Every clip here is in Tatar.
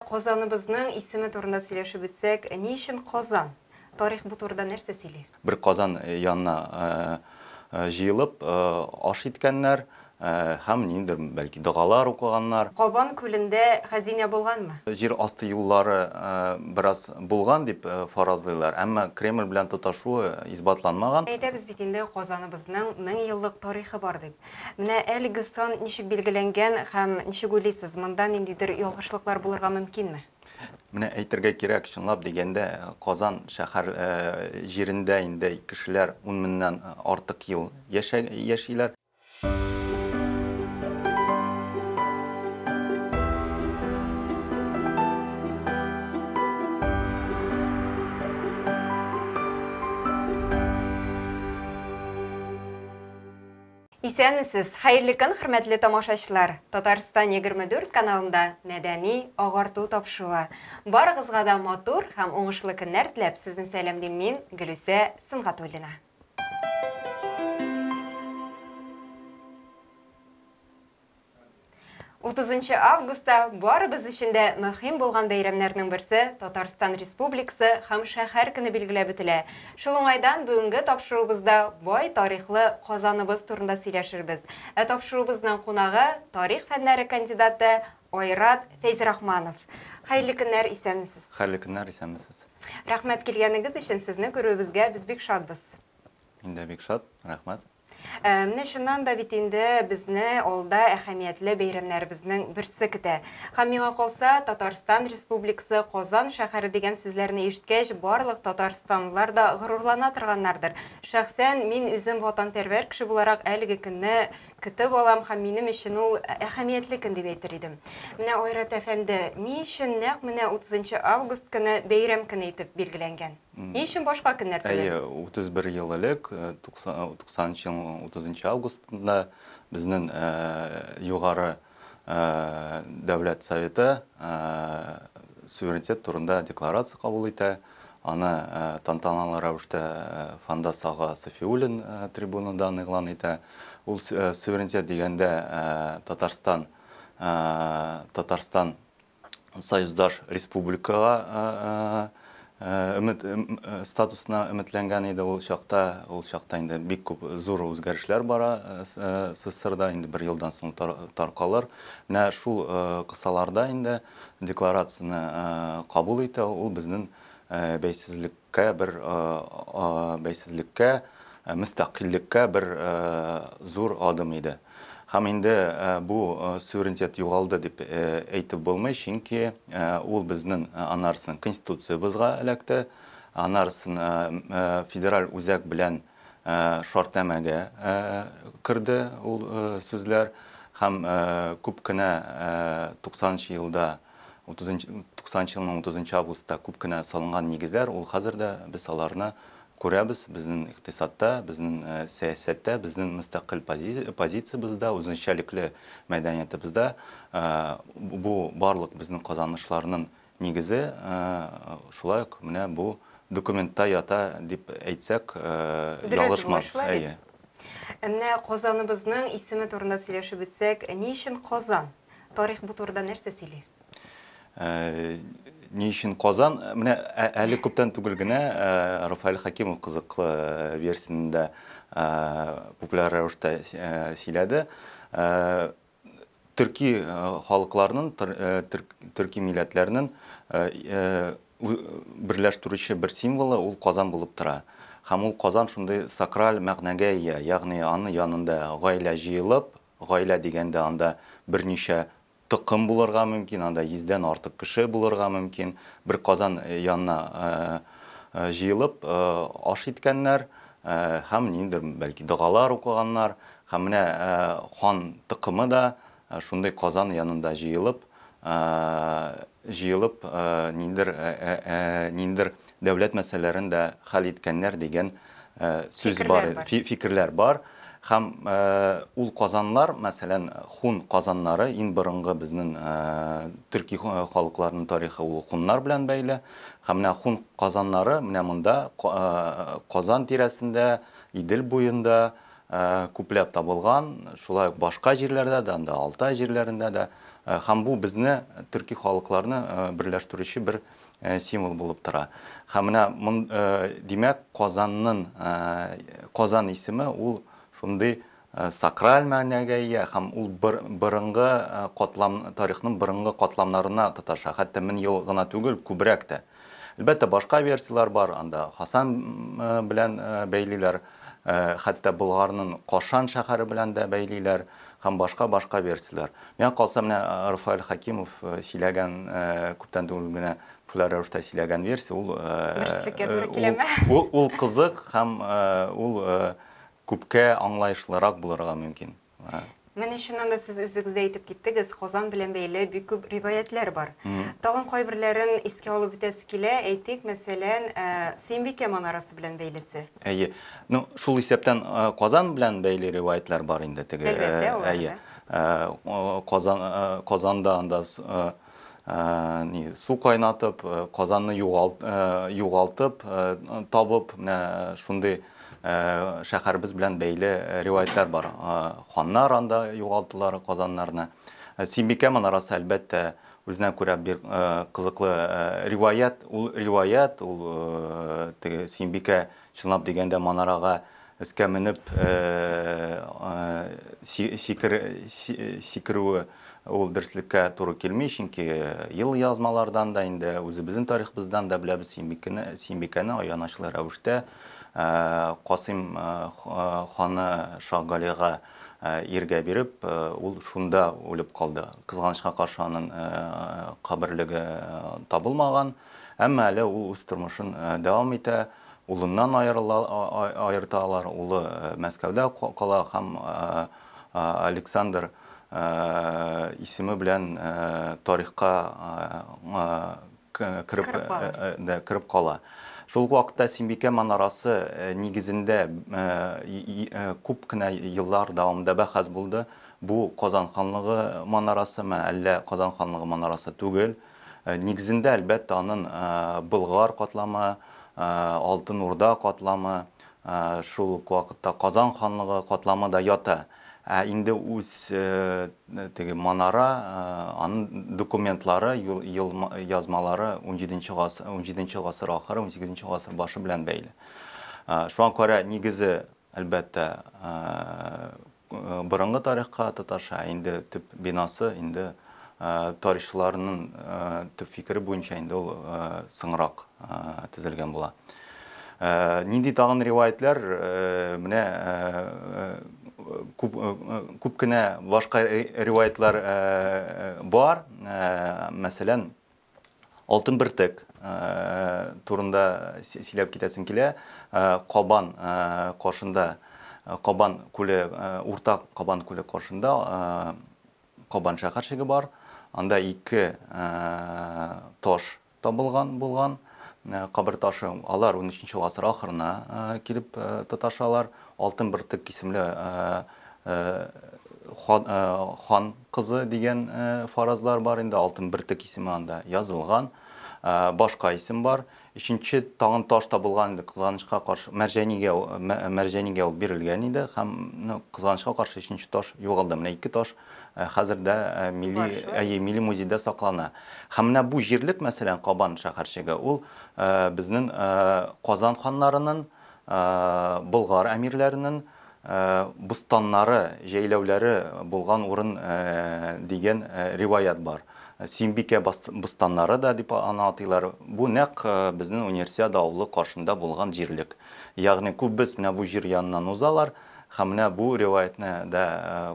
Казаныбызның исеме турында сөйләшеп үтсәк, ни өчен Казан? Тарих бу турыда нәрсә сөйли? Бер Казан янына җыелып аш иткәннәр һәм ниндидер, бәлки, догалар укыганнар. Кабан күлендә хәзинә булганмы? Җир асты юллары бераз булган дип фаразлыйлар, әмма Кремль белән тоташуы исбатланмаган. Әйтәбез бит инде, Казаныбызның мең еллык тарихы бар дип. Менә әлеге сан ничек билгеләнгән һәм ничек уйлыйсыз, монда ниндидер ялгышлыклар булырга мөмкинме? Менә әйтергә кирәк, чынлап дигәндә, Казан шәһәр җирендә инде кешеләр ун меңнән артык ел яшиләр. Исәнмесез, хәерле көн, хөрмәтле тамашачылар! Татарстан 24 каналында мәдәни агарту тапшыруы. Барыгызга да матур һәм уңышлы көннәр теләп, сезне сәламлим мин, Гөлүсә Сөнгатуллина. 30 августта барыбыз өчен дә мөһим булган бәйрәмнәрнең берсе Татарстан Республикасы һәм шәһәр көне билгеләп үтелә. Шул уңайдан бүгенге тапшыруыбызда бай тарихлы Казаныбыз турында сөйләшербез. Ә тапшыруыбызның кунагы, тарих фәннәре кандидаты Айрат Фәйзрахманов. Хәерле көннәр, исәнмесез. Хәерле көннәр, исәнмесез. Рәхмәт килгәнегез өчен, сезне күрүебезгә без бик шатбыз. Мин дә бик шат, рәхмәт. Ә, менә чыннан да бит инде безне алда әһәмиятле бәйрәмнәребезнең берсе көтә. Һәм миңа калса, Татарстан Республикасы, Казан шәһәре дигән сүзләрне ишеткәч, барлык татарстанлылар да горурлана торганнардыр. Шәхсән мин үзем ватанпәрвәр кеше буларак әлеге көнне көтеп алам һәм минем өчен ул әһәмиятле көн дип әйтер идем. Менә Айрат әфәнде, ни өчен нәкъ менә 30 август көне бәйрәм көне итеп билгеләнгән? Ни өчен башка көннәр түгел? Әйе, 31 ел элек, 90 нчы елның 30 августында безнең Югары Дәүләт Советы суверенитет турында декларация кабул итә. Аны тантаналы рәвештә Фандас ага Сафиуллин трибунадан игълан итә. Ул суверенитет дигәндә Татарстан Татарстан союздаш республикага өмет статусына өметләнгән иде ул чакта. Ул чакта инде бик күп зур үзгәрешләр бара СССРда, инде бер елдан соң таркалыр. Менә шул кысаларда инде декларацияне кабул итә ул безнең бәйсезлек Кә бер бәйсезлеккә, мөстәкыйльлеккә бер зур адым иде. Һәм инде бу суверенитет югалды дип әйтеп булмый, чөнки ул безнең анарсын Конституциябызга эләкте, анарсын федераль үзәк белән шартнамәгә керде ул сүзләр һәм күп кенә 90 нчы елда 90 елның 30 августта күп кенә салынган нигезләр, ул хәзер дә без аларны күрәбез, безнең икътисадта, безнең сәясәттә, безнең мөстәкыйль позициябездә, үзенчәлекле мәдәниятебездә. Бу барлык безнең казанышларның нигезе шулай ук менә бу документта ята дип әйтсәк, ялгышмас. Әйе. Менә Казаныбызның исеме турында сөйләшеп үтсәк, ни өчен Казан? Тарих бу турыда нәрсә сөйли? Ни өчен Казан? Менә әле күптән түгел генә Рафаэль Хакимов кызыклы версияне дә популяр рәвештә сөйләде. Төрки халыкларның, төрки милләтләрнең берләштерүче бер символы ул Казан булып тора. Һәм ул Казан шундый сакраль мәгънәгә ия, ягъни аны янында гаилә җыелып, Гаилә дигәндә анда берничә токым булырга мөмкин, анда йөздән артык кеше булырга мөмкин. Бер казан янына җыелып аш иткәннәр һәм ниндидер, бәлки, догалар укыганнар. Һәм менә хан токымы да шундый казан янында җыелып җыелып ниндер ниндер дәүләт мәсьәләләрен дә хәл иткәннәр дигән сүз бар, фикерләр бар. Һәм ул казаннар, мәсәлән, хун казаннары, иң борынгы безнең төрки халыкларның тарихы ул хуннар белән бәйле. Һәм менә хун казаннары менә монда Казан тирәсендә, Идел буенда күпләп табылган, шулай ук башка җирләрдә дә, анда Алтай җирләрендә дә. Һәм бу безне, төрки халыкларны берләштерүче бер символ булып тора. Һәм менә мон, димәк, Казаннын, Казан исеме ул шундый сакраль мәгънәгә ия һәм ул бер борынгы катлам, тарихның борынгы катламнарына тоташа. Хәтта мең ел гына түгел, күбрәк тә. Әлбәттә, башка версияләр бар, анда Хасан белән бәйлиләр, хәтта Болгарнын Кашан шәһәре белән дә бәйлиләр һәм башка-башка версияләр. Миңа калса, менә Рафаэль Хәкимов сөйләгән, күптән түгел генә популяр рәвештә сөйләгән версия, ул, Дөреслеккә туры киләме? Ул кызык һәм ул күпкә аңлаешлырак булырга мөмкин. Менә чыннан да сез үзегез дә әйтеп киттегез, Казан белән бәйле бик күп риваятләр бар. Тагын кайберләрен искә алып үтәсе килә, әйтик, мәсәлән, Сөембикә манарасы белән бәйлесе. Әйе. Ну, шул исәптән Казан белән бәйле риваятләр бар инде теге. Әлбәттә, алар да. Әйе. Казан, Казанда анда ни су кайнатып казанны югалт югалтып табып менә шундый шәһәребез белән бәйле риваятьләр бар ханнар анда югалтылар казаннарны симбикә манарасы әлбәттә үзенә күрә бер кызыклы риваять ул риваять ул теге симбикә Чынлап дигәндә, манарага өскә менеп сикерүе ул дөреслеккә туры килми, чөнки елъязмалардан да инде, үзебезнең тарихыбыздан да беләбез, Сөембикәне аянычлы рәвештә Касыйм ханы Шаһгалига иргә биреп, ул шунда үлеп калды. Кызганычка каршы, аның каберлеге табылмаган. Әмма әле ул үз тормышын дәвам итә, улыннан аерта алар, улы Мәскәүдә кала һәм Александр исеме белән тарихка кереп кала. Шул ук вакытта Симбикә манарасы нигезендә күп кенә еллар дәвамында бәхәс булды, бу Казан ханлыгы манарасымы, әллә Казан ханлыгы манарасы түгел? Нигезендә, әлбәттә, анын Болгар катламы, Алтын Урда катламы, шул ук вакытта Казан ханлыгы катламы да ята. Ә инде үз теге манара, анын документлары, юл язмалары унҗиденче гасыр, унҗиденче гасыр ахыры, унсигезенче гасыр башы белән бәйле. Шуңа күрә нигезе Әлбәттә, борынгы тарихка татарча, ә инде төп бинасы инде тарихчыларның төп фикере буенча инде ул соңрак төзелгән була. Нинди тагын риваятьләр, менә күп күп кенә башка риваятьләр бар. Мәсәлән, Алтын бөртек турында сөйләп китәсем килә. Кабан каршында, Кабан күле, Урта Кабан күле каршында Кабан шәһәрчеге бар. Анда ике таш табылган булган, кабер ташы. Алар 13 гасыр ахырына килеп тоташалар. Алтын бөртек исемле хан кызы дигән фаразлар бар инде, алтын бөртек исеме анда язылган. Башка исем бар. Өченче тагын таш табылган инде, кызганычка каршы, Мәрҗәнигә, Мәрҗәнигә ул бирелгән иде һәм ну, кызганычка каршы өченче таш югалды. Менә ике таш хәзер дә милли, әйе, милли музейда саклана. Һәм менә бу җирлек, мәсәлән, Кабан шәһәрчеге, ул безнең Казан ханнарының, Болгар әмирләренең, Бустаннары, җәйләүләре булган урын дигән риваять бар. Сөембикә бостаннары да дип аны атыйлар. Бу нәкъ безнең Универсиада авылы каршында булган җирлек. Ягъни күббез менә бу җир яныннан узалар һәм менә бу риваятьне дә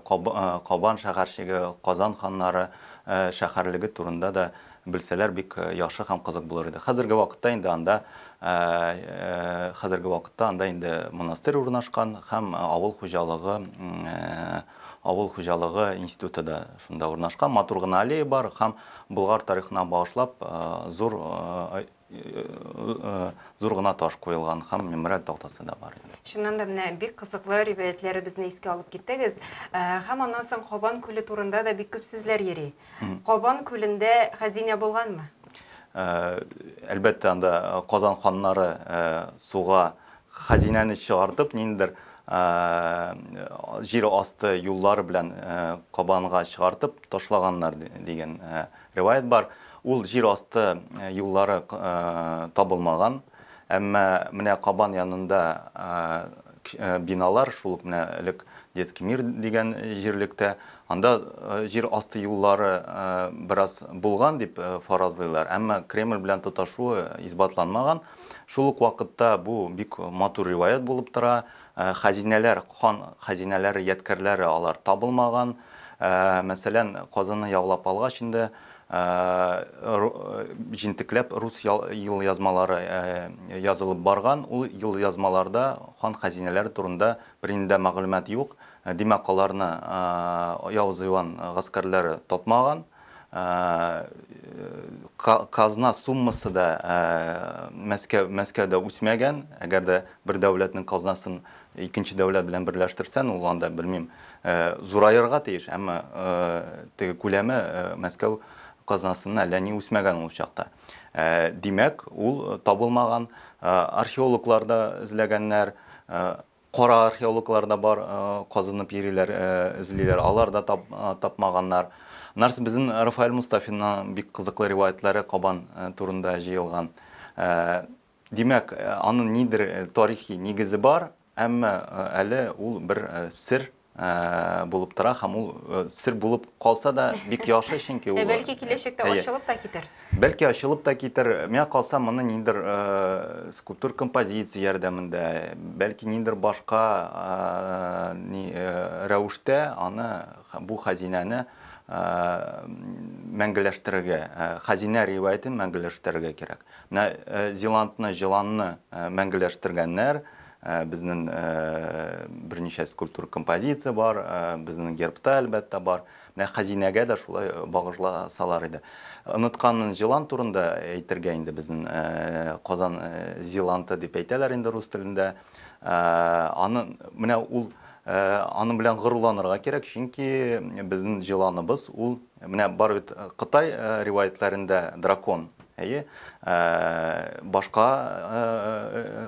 Кабан шәһәрчеге, Казан ханнары шәһәрлеге турында да Белсәләр бик яхшы һәм кызык булыр иде. Хәзерге вакытта инде анда хәзерге вакытта анда инде монастырь урнашкан һәм авыл хуҗалыгы авыл хуҗалыгы институты да шунда урнашкан. Матур гына аллея бар һәм Болгар тарихына багышлап зур Зур гына таш куелган һәм мемориаль тактасы да бар. Чыннан да менә бик кызыклы риваятьләребезне искә алып киттегез. Һәм аннан соң Кабан күле турында да бик күп сүзләр йөри. Кабан күлендә хәзинә булганмы? Әлбәттә, анда Казан ханнары суга хәзинәне чыгартып, ниндидер җир асты юллары белән Кабанга чыгартып ташлаганнар дигән Риваять бар, ул җир асты юллары табылмаган, әмма менә Кабан янында биналар, шул ук менә элек Детский мир дигән җирлектә, анда җир асты юллары бераз булган дип фаразлыйлар, әмма Кремль белән тоташуы исбатланмаган. Шул ук вакытта бу бик матур риваять булып тора. Хәзинәләр, хан хәзинәләре, ядкәрләре алар табылмаган. Мәсәлән, Казанны яулап алгач инде, җентекләп рус елъязмалары язылып барган. Ул елъязмаларда хан хәзинәләре турында бернинди дә мәгълүмат юк. Димәк, аларны Явыз Иван гаскәрләре тапмаган. Казна суммасы да Мәскәүдә үсмәгән. Әгәр дә бер дәүләтнең казнасын икенче дәүләт белән берләштерсән, ул анда, белмим, зураерга тиеш, әмма теге күләме Мәскәү казнасыннан әллә ни үсмәгән ул чакта. Димәк, ул табылмаган. Археологлар да эзләгәннәр, Кара археологлар да бар, казынып йөриләр, эзлиләр, алар да тапмаганнар. Нарс безнең Рафаэль Мустафинның бик кызыклы риваятьләре Кабан турында җыелган. Димәк, аның нидер тарихи нигезе бар, әмма әле ул бер сер булып тора һәм ул сер булып калса да бик яхшы чөнки ул бәлки киләчәктә ачылып та китер бәлки ачылып та китер миңа калса моны ниндер скульптур композиция ярдәмендә бәлки ниндер башка рәвештә аны бу хәзинәне мәңгеләштерергә хәзинә риваятен мәңгеләштерергә кирәк менә зилантны җыланны мәңгеләштергәннәр Безнең берничә скульптур композиция бар, безнең гербта әлбәттә бар. Менә хәзинәгә дә шулай багышласалар иде. Оныткан җылан турында әйтергә инде безнең Казан зиланты дип әйтәләр инде рус телендә. Аны менә ул аның белән горурланырга кирәк, чөнки безнең җыланыбыз ул Менә бар бит Кытай риваятьләрендә дракон, әйе. Башка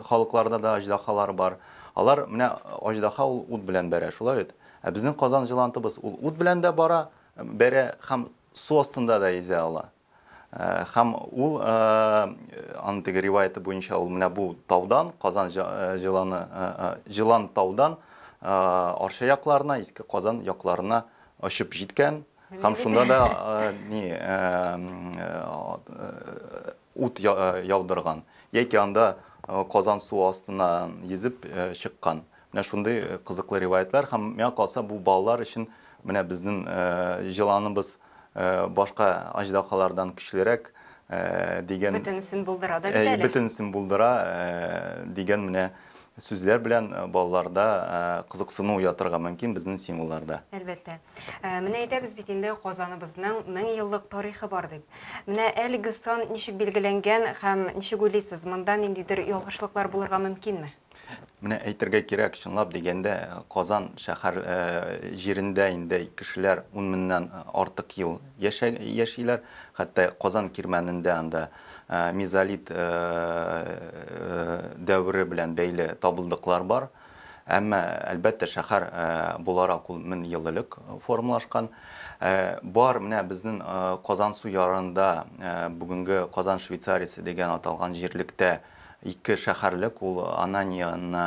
халыкларда да аҗдаһалар бар. Алар, менә аҗдаһа ул ут белән бәрә, шулай бит? Ә безнең Казан җылантыбыз ул ут белән дә бара, бәрә һәм су астында да йөзә ала. Һәм ул, аның теге риваяте буенча, ул менә бу таудан, Казан җыланы, җылан таудан Арча якларына, Иске Казан якларына очып җиткән. Һәм шунда да ни ут яудырган. Яки анда Казан су астына йөзеп чыккан. Менә шундый кызыклы риваятьләр һәм миңа калса бу балалар өчен менә безнең җыланыбыз башка аҗдаһалардан көчлерәк дигән Бөтенесен булдыра да бит әле. Әйе, бөтенесен булдыра дигән менә сүзләр белән балаларда кызыксыну уятырга мөмкин безнең символларда. Әлбәттә. Менә әйтәбез бит инде Казаныбызның 1000 еллык тарихы бар дип. Менә әлеге сан ничек билгеләнгән һәм ничек уйлыйсыз, монда ниндидер ялгышлыклар булырга мөмкинме? Менә әйтергә кирәк, чынлап дигәндә, Казан шәһәр җирендә инде кешеләр ун меңнән артык ел яшиләр. Хәтта Казан кирмәнендә анда мезолит дәвере белән бәйле табылдыклар бар. Әмма, әлбәттә, шәһәр буларак ул мең ел элек формалашкан. Бар, менә безнең Казансу ярында, бүгенге Казан Швейцариясе дигән аталган җирлектә Ике шәһәрлек ул Ананияны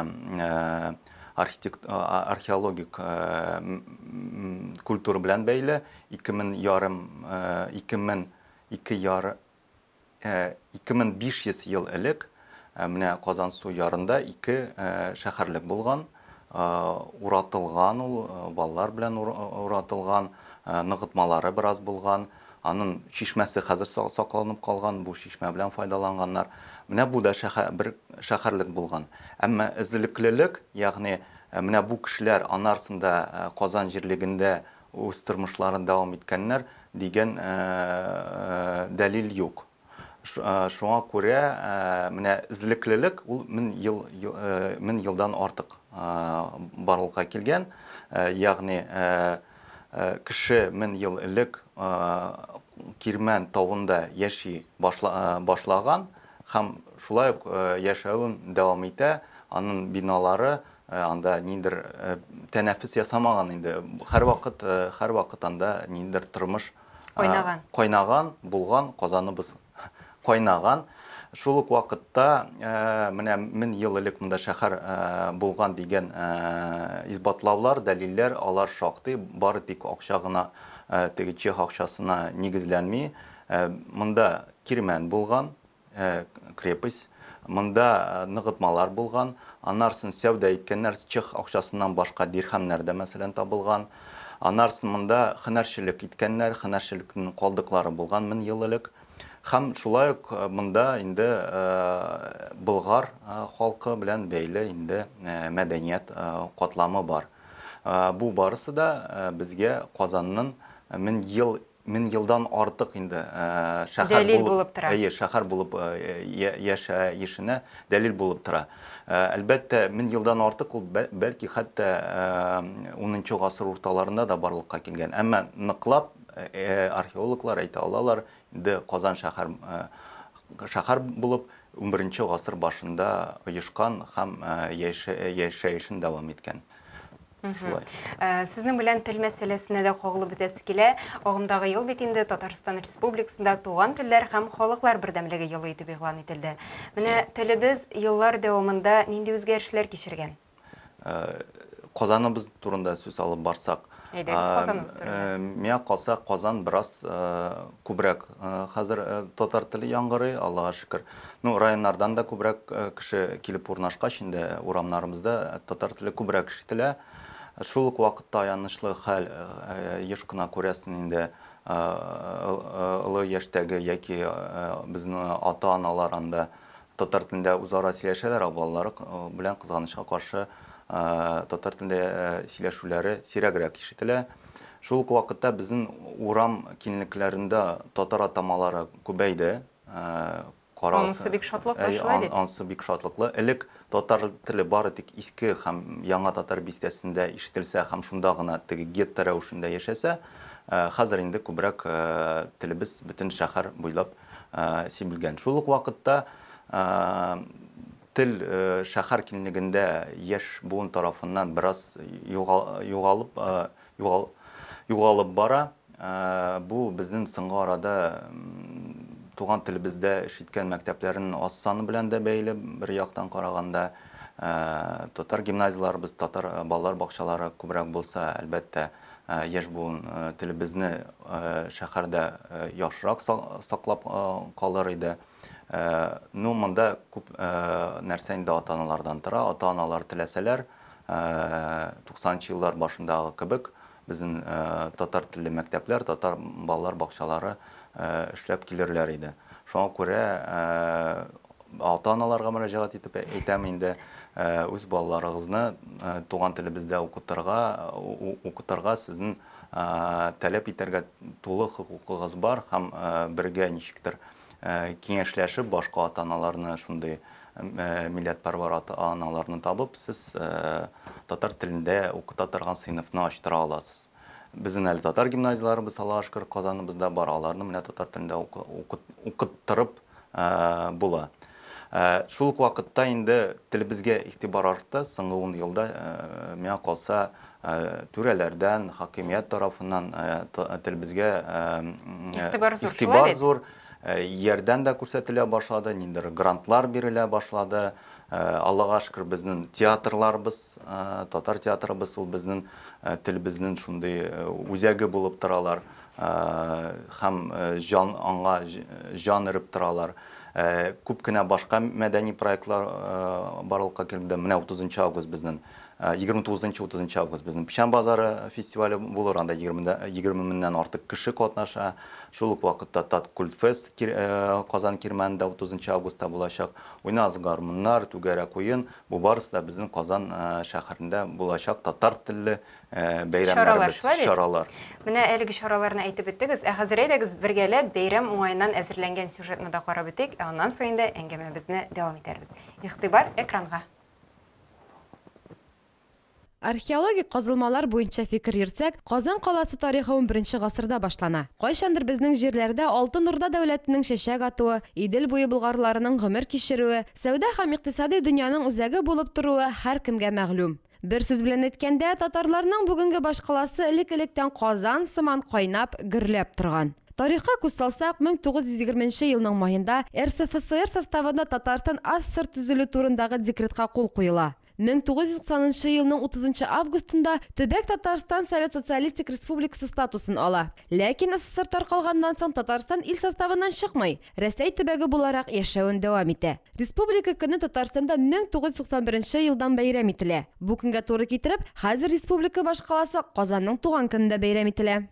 археологик культура белән бәйле, ике мең ярым, ике мең ике яр, ике мең биш йөз ел элек менә Казансу ярында ике шәһәрлек булган. Уратылган ул, балалар белән уратылган, ныгытмалары бераз булган. Анын чишмәсе хәзер сакланып калган, бу чишмә белән файдаланганнар. Менә бу да бер шәһәрлек булган. Әмма эзлеклелек, ягъни менә бу кешеләр анарсын да Казан җирлегендә үз тормышларын дәвам иткәннәр, дигән дәлил юк. Шуңа күрә менә эзлеклелек ул мең ел, мең елдан артык барлыкка килгән. Ягъни кеше мең ел элек Кирмән тавында яши башлаган һәм шулай ук яшәвен дәвам итә. Аның биналары анда ниндидер тәнәфес ясамаган инде. Һәрвакыт, һәрвакыт анда ниндидер тормыш Кайнаган. Кайнаган, булган, казаныбыз кайнаган. Шул ук вакытта менә мин ел элек монда шәһәр булган дигән исбатлаулар, дәлилләр, алар шактый, бары тик акча гына теге чех акчасына нигезләнми. Монда кирмән булган, Э, крепость. Монда э, ныгытмалар булган. Анарсын сәүдә иткәннәр чех акчасыннан башка дирхәмнәр дә мәсәлән табылган. Анарсын монда хәнәрчелек иткәннәр, хәнәрчелекнең калдыклары булган мең ел элек. Хәм шулай ук э, монда инде Болгар халкы белән бәйле инде мәдәният катламы бар. Бу барысы да безгә Казанның мең ел Мең елдан артык инде шәһәр булып, әйе, шәһәр булып яшәешенә дәлил булып тора. Әлбәттә, мең елдан артык ул, бәлки, хәтта унынчы гасыр урталарында да барлыкка килгән. Әмма ныклап археологлар әйтә алалар, инде Казан шәһәр шәһәр булып унберенче гасыр башында оешкан һәм яшәешен дәвам иткән. Шулай. Э, Сезнең белән тел мәсьәләсенә дә кагылып үтәсе килә. Агымдагы ел бит инде Татарстан Республикасында Туган телләр һәм халыклар бердәмлеге елы итеп игълан ителде. Менә телебез еллар дәвамында нинди үзгәрешләр кичергән? Э, Казаныбыз турында сүз алып барсак, Әйдәгез, Казаныбыз турында. Э, миңа калса Казан бераз э, күбрәк Хәзер татар теле яңгырый, Аллага шөкер. Ну, районнардан да күбрәк кеше килеп урнашкач, инде урамнарыбызда татар теле күбрәк ишетелә. Шул ук вакытта аянычлы хәл, еш кына күрәсен инде, олы яшьтәге яки безнең ата-аналар анда Татар телендә үзара сөйләшәләр, ә балалары белән, кызганычка каршы, татар телендә сөйләшүләре сирәгрәк ишетелә. Шул ук вакытта безнең урам киңлекләрендә татар атамалары күбәйде. Анысы бик шатлыклы, шулай бит? Анысы бик шатлыклы. Элек татар теле бары тик Иске һәм Яңа Татар бистәсендә ишетелсә һәм шунда гына теге гетто рәвешендә яшәсә, хәзер инде күбрәк телебез бөтен шәһәр буйлап Син белгән. Шул ук вакытта тел шәһәр киңлегендә яшь буын тарафыннан бераз югалып югалып бара. Бу безнең соңгы арада туган телебездә эш иткән мәктәпләрнең аз саны белән дә бәйле. Бер яктан караганда, татар гимназияләребез, татар балалар бакчалары күбрәк булса, әлбәттә, Яшь буын телебезне шәһәрдә яхшырак саклап калыр иде. Ну, монда күп нәрсә инде ата-аналардан тора. Ата-аналар теләсәләр, 90 нчы еллар башындагы кебек, безнең татар телле мәктәпләр, татар балалар бакчалары эшләп килерләр иде. Шуңа күрә Ата-аналарга мөрәҗәгать итеп әйтәм инде, үз балаларыгызны туган телебездә укытырга, укытырга сезнең таләп итәргә тулы хокукыгыз бар һәм бергә ничектер киңәшләшеп башка ата-аналарны шундый милләтпәрвәр ата-аналарны табып сез татар телендә укыта торган сыйныфны ачтыра аласыз. Безнең әле татар гимназияләребез Алашкыр, Казаныбызда бар, аларны менә татар телендә укыттырып була. Шул ук вакытта инде телебезгә игътибар артты, соңгы ун елда, миңа калса, түрәләрдән, хакимият тарафыннан телебезгә игътибар зур. Ярдәм дә күрсәтелә башлады, ниндидер грантлар бирелә башлады. Аллага шөкер, безнен театрларыбыз, татар театрыбыз ул безнен телебезнен шундый үзәге булып торалар һәм җан аңа җан өреп торалар. Күп кенә башка мәдәни проектлар барлыкка килде. Менә 30 нчы август безнен Егерме тугызынчы, утызынчы август безнең Печән базары фестивале булыр, анда егерме меңнән артык кеше катнаша. Шул ук вакытта Таткультфест Казан Кирмәнендә утызынчы августта булачак. Уйнагыз гармуннар, түгәрәк уен, бу барысы да безнең Казан шәһәрендә булачак татар телле бәйрәмнәребез, чаралар. Менә әлеге чараларны әйтеп беттегез, ә хәзер әйдәгез бергәләп бәйрәм уңаеннан әзерләнгән сюжетны да карап үтик, ә аннан соң инде әңгәмәбезне дәвам итәрбез. Игътибар экранга! Археологик казылмалар буенча фикер йөртсәк, Казан каласы тарихы унберенче гасырда башлана. Кайчандыр безнең җирләрдә Алтын Урда дәүләтенең чәчәк атуы, Идел буе болгарларының гомер кичерүе, сәүдә һәм икътисадый дөньяның үзәге булып торуы һәркемгә мәгълүм. Бер сүз белән әйткәндә, татарларның бүгенге башкаласы элек-электән Казан сыман кайнап, гөрләп торган. Тарихка күз салсак, 1920 нче елның маенда РСФСР составында Татарстан АССР төзелү турындагы декретка кул куела. 1990 нчы елның 30 нчы августында төбәк Татарстан Совет Социалистик Республикасы статусын ала. Ләкин СССР таркалганнан соң Татарстан ил составыннан чыкмый, Рәсәй төбәге буларак яшәвен дәвам итә. Республика көне Татарстанда 1991 нче елдан бәйрәм ителә. Бу көнгә туры китереп, хәзер республика башкаласы Казанның туган көнендә бәйрәм ителә.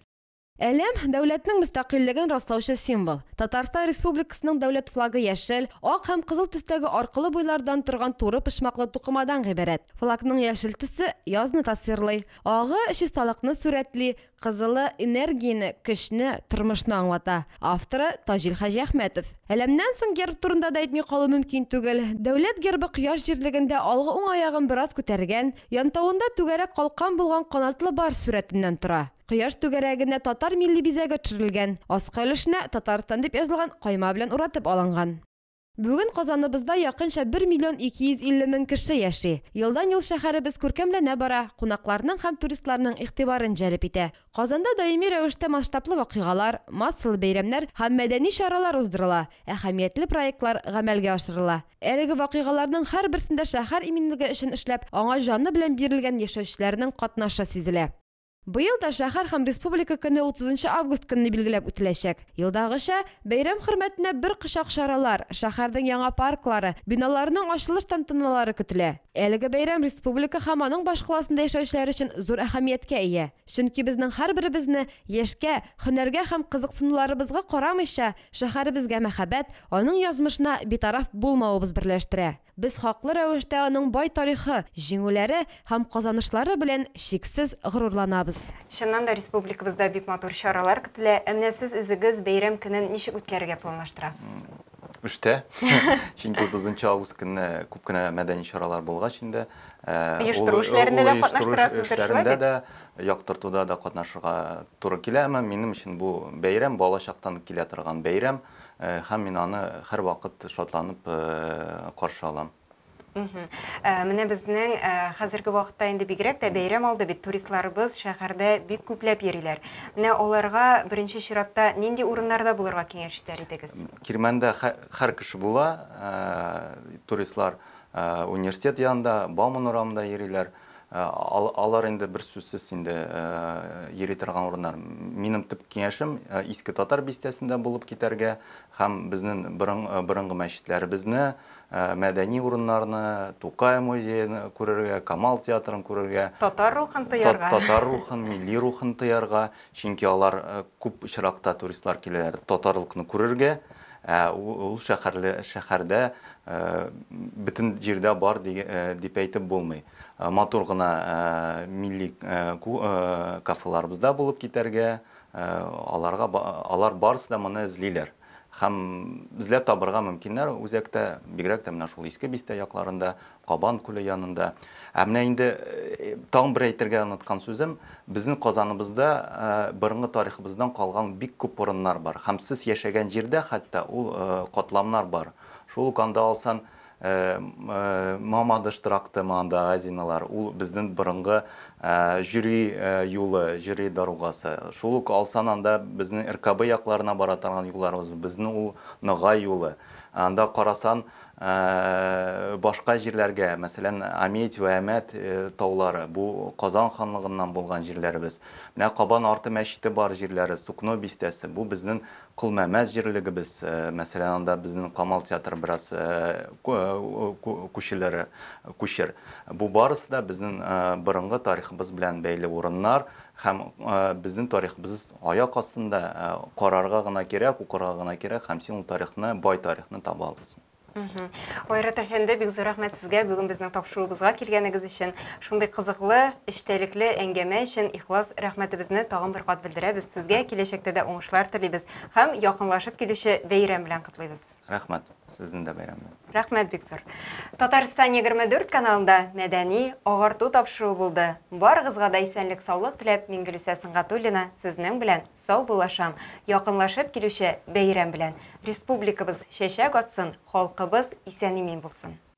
Әлем, дәүләтнең мөстәкыйльлеген раслаучы символ. Татарстан Республикасының дәүләт флагы яшел, ак һәм кызыл төстәге аркылы буйлардан торган туры почмаклы тукымадан гыйбарәт. Флагның яшел төсе язны тасвирлый, агы чисталыкны сурәтли, кызылы энергияне, көчне, тормышны аңлата. Авторы Таҗил Хаҗиәхмәтов. Әлемнән соң герб турында да әйтми калу мөмкин түгел. Дәүләт гербы кояш җирлегендә алгы уң аягын бераз күтәргән, янтавында түгәрәк калкан булган канатлы барс сурәтеннән тора. Кояш түгәрәгенә татар милли бизәге төшерелгән, аскы өлешенә Татарстан дип язылган кайма белән уратып алынган. Бүген Казаныбызда якынча бер миллион ике йөз илле мең кеше яши. Елдан-ел шәһәребез күркәмләнә бара, кунакларның һәм туристларның игътибарын җәлеп итә. Казанда даими рәвештә масштаблы вакыйгалар, массалы бәйрәмнәр һәм мәдәни чаралар уздырыла, әһәмиятле проектлар гамәлгә ашырыла. Әлеге вакыйгаларның һәрберсендә шәһәр иминлеге өчен эшләп, аңа җаны белән бирелгән яшәүчеләрнең катнашы сизелә. Быел да шәһәр һәм республика көне 30 август көнне билгеләп үтеләчәк. Елдагыча, бәйрәм хөрмәтенә бер кочак чаралар, шәһәрнең яңа парклары, биналарының ачылыш тантаналары көтелә. Әлеге бәйрәм республика һәм аның башкаласында яшәүчеләр өчен зур әһәмияткә ия. Чөнки безнең һәрберебезне, яшькә, һөнәргә һәм кызыксынуларыбызга карамыйча, шәһәребезгә мәхәббәт, аның язмышына битараф булмавыбыз берләштерә. Без хаклы рәвештә аның бай тарихы, җиңүләре һәм казанышлары белән чиксез горурланабыз. Чыннан да республикабызда бик матур чаралар көтелә. Ә менә сез үзегез бәйрәм көнен ничек үткәрергә планлаштырасыз? Эштә. Чөнки 30 август көнне күп кенә мәдәни чаралар булгач инде, Оештыру эшләрендә дә катнаштырасыздыр, шулай бит? Оештыру эшләрендә дә, яктыртуда да катнашырга туры килә. Әмма минем өчен бу бәйрәм, балачактан килә торган бәйрәм. Һәм мин аны һәрвакыт шатланып каршы алам. Менә безнең хәзерге вакытта инде бигрәк тә бәйрәм алды бит, туристларыбыз шәһәрдә бик күпләп йөриләр. Менә аларга беренче чиратта нинди урыннарда булырга киңәш итәр идегез? Кирмәндә һәр кеше була, туристлар университет янында, Бауман урамында йөриләр. Алар инде берсүзсез инде йөри торган урыннар. Минем төп киңәшем Иске Татар бистәсендә булып китәргә һәм безнен борынгы мәчетләребезне, мәдәни урыннарны, Тукай музеен күрергә, Камал театрын күрергә. Татар рухын тоярга. Татар рухын, милли рухын тоярга. Чөнки алар күп очракта туристлар киләләр татарлыкны күрергә, ә ул шәһәрле шәһәрдә бөтен җирдә бар дип әйтеп булмый. Матур гына милли кафеларыбыз да булып китәргә, аларга алар барысы да моны эзлиләр. Һәм эзләп табырга мөмкиннәр үзәктә, бигрәк тә менә шул Иске Бистә якларында Кабан күле янында. Ә менә инде тагын бер әйтергә оныткан сүзем, безнең Казаныбызда борынгы тарихыбыздан калган бик күп урыннар бар. Һәм сез яшәгән җирдә хәтта ул катламнар бар. Шул ук анда алсаң, Мамадыш тракты мондагы азиналар, ул безнең борынгы җөри юлы, җөри дорогасы. Шул ук алсаң анда безнең РКБ якларына бара торган юлларыбыз, безнең ул Ногай юлы. Анда карасаң, башка җирләргә, мәсәлән, Амедь вә Әмәт таулары, бу Казан ханлыгыннан булган җирләребез. Менә Кабан арты мәчете бар җирләре, Сукно бистәсе, бу безнең Колмәмәс җирлегебез, мәсәлән, анда безнең Камал театры бераз күчелер, күчер. Бу барысы да безнең борынгы тарихыбыз белән бәйле урыннар һәм безнең тарихыбыз Аяк астында карарга гына кирәк, укырга гына кирәк һәм син ул тарихны, бай тарихны таба аласың. Айрат әфәнде, бик зур рәхмәт сезгә бүген безнең тапшыруыбызга килгәнегез өчен, шундый кызыклы, эчтәлекле әңгәмә өчен ихлас рәхмәтебезне тагын бер кат белдерәбез. Сезгә киләчәктә дә уңышлар телибез һәм якынлашып килүче бәйрәм белән котлыйбыз. Рәхмәт, сезне дә бәйрәм белән. Рәхмәт бик зур. Татарстан 24 каналында мәдәни, агарту тапшыруы булды. Барыгызга да исәнлек саулык теләп Мингөлүсә Сынгатуллина сезнең белән сау булашам. Якынлашып килүче бәйрәм белән. Республикабыз чәчәк атсын, халкыбыз исән-имин булсын.